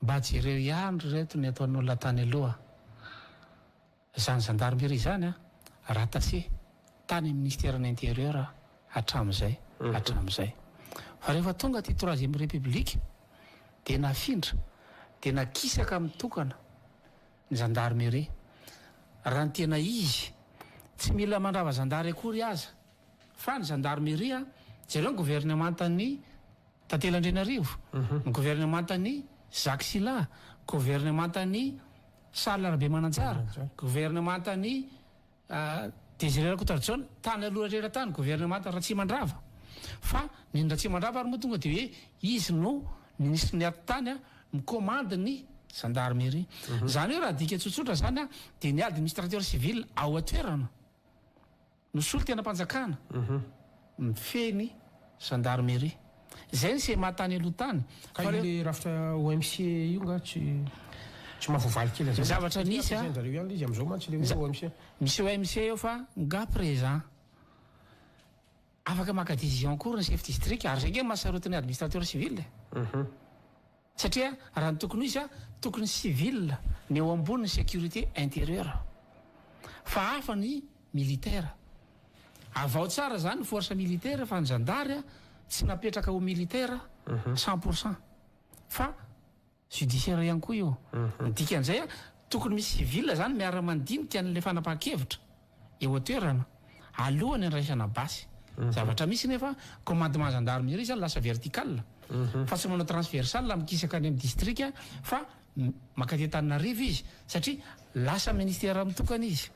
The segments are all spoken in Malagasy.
Mba jereo ihany ry reto ny ataon'olona tany aloha izany zandarmeria izany a! raha tase tany amin'ny ministeran'ny interieur hatramin'izay hatramin'izay fa rehefa tonga aty troisième république dia nafindra dia nakisaka mitokana ny zandarmeria raha ny tena izy tsy mila mandrava zandary akory aza Fa ny zandarmeria, jereo ny governemantan'ny Tantely Andrianarivo, ny governemantan'ny Zaky Sila, governemantan'ny Charles Rabemananjara, governemantan'ny Désiré Rakotoarijaona, tany aloha rehetra tany, governemantan'i Ratsimandrava. Fa neny Ratsimandrava ary moa tonga dia hoe izy no minisitry ny atitany mikomandy ny zandarmeria. Izany hoe raha adika tsotsotra izany dia ny administrateur civil ao an-toerana. no solontenam-panjakana mifehy ny Gendarmerie. Izay ny CMA tany aloha tany. Ka io le rafitra OMC io nga tsy tsy mahavoavaly kely an'zay. Ny zavatra misy a. Ampiasain-dry zareo ihany le izy am'zao mantsy le hoe OMC. Misy OMC eo fa nga présent. Afaka maka décision akory ny chef district ary zay nga maha sarotiny administrateur civil e. Satria raha ny tokony ho izy, tokony civil ny eo ambony sécurité intérieur fa hafa ny militaire. Avaho tsara zany ny force militaire fa ny zandary tsy napetraka ho militaire cent pour cent fa judiciaire ihany koa io. Ny dikan'izay tokony misy civil zany miara-mandinika an'ilay fanapahan-kevitra. eo an-toerana alohan'ny andraisana basy. Zavatra misy nefa commandement gendarmerie izany lasa vertical fa tsy manao transversal mikisaka any amin'ny distrika fa maka aty Antananarivo izy satria lasa ministère mitokana izy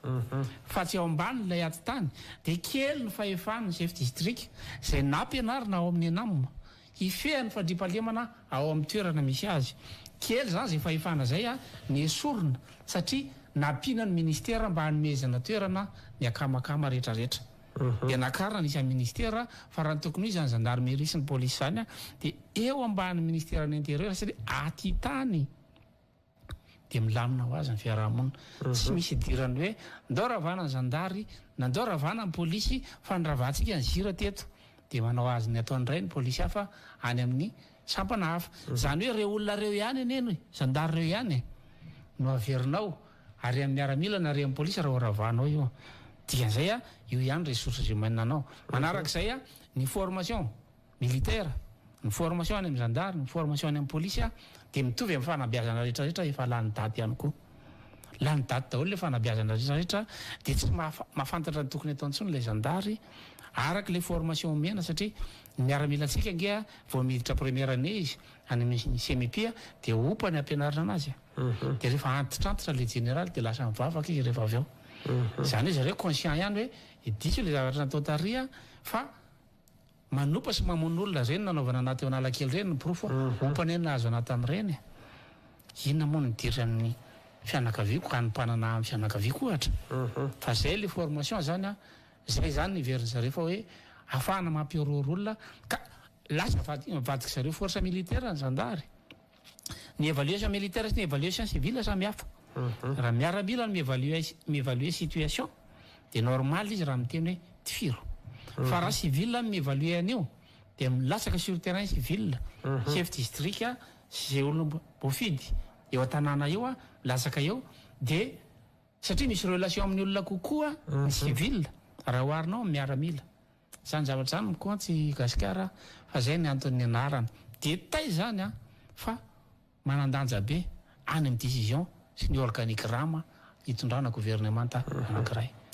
fa tsy ao ambany ilay atitany dia kely ny fahefan'ny chef district izay nampianarina ao amin'ny ENAM Hifehy ny fandriampahalemana ao amin'ny toerana misy azy. Kely izany izay fahefana izay nesorina satria nampiana ny minisitera mba hanomezana toerana ny akamakama rehetrarehetra. Dia nakarina ny isan'ny minisitera fa raha ny tokony ho izy izany zandarmeria sy ny polisy izany dia eo ambanin'ny ministeran'ny interieur satria aty tany. dia milamina ho azy ny fiaraha-monina. Tsy misy idiran'ny hoe ndao ravana ny zandary na ndao ravana ny polisy fa ny ravantsika ny zira teto dia manao azy ny ataony indray ny polisy hafa any amin'ny sampana hafa. Izany hoe ireo olona ireo ihany anie ny zandary ireo ihany e! no averinao arian'ny miaramila na arian'ny polisy raha horavanao io. Dikan'izay io ihany ressources humaines-nao. Manarak'izay ny formation. militaire, ny formation any amin'ny zandary, ny formation any amin'ny polisy dia mitovy amin'ny fanabeazana rehetra rehetra efa lany daty ihany koa. Lany daty daholo ilay fanabeazana rehetra rehetra dia tsy mahafantatra ny tokony atao intsony ilay zandary araka ilay formation omena satria ny miaramilantsika ange vao miditra première année izy any amin'ny CMIP dia hopa ny hampianarina anazy dia rehefa antitrantitra ilay jeneraly dia lasa mivavaka izy rehefa avy eo. Izany hoe zareo conscient ihany hoe diso ilay zavatra natao tary fa Manopa sy mamono olona reny nanaovana anah teo analakely reny ny porofo ompa anie nahazo anah tamin'ireny e! inona moa no dira ny fianakaviako hanompanana ahy amin'ny fianakaviako ohatra fa zay le formation zany an! zay zany ny heverin'ny zareo fa hoe afahana mampihorohoro olona ka lasa vadik'zareo force militaire ny zandary ny evaluation militaire sy ny evaluation civile samy hafa. Raha miaramila no mi-evaluer mi-evaluer situation dia normal izy raha miteny hoe tifiro. Fa raha civil no mi-evaluer an'io dia milatsaka sur terrain civil, chef district sy izay olona mbo- mboafidy eo an-tanàna eo milatsaka eo dia satria misy relation amin'ny olona kokoa ny civil raha oharina amin'ny miaramila. Zany zavatra zany no compte i Gasikara fa zay ny antony nianarana dia tay zany fa manandanja be any amin'ny decision sy ny organigramme hitondrana gouvernemanta anankiray.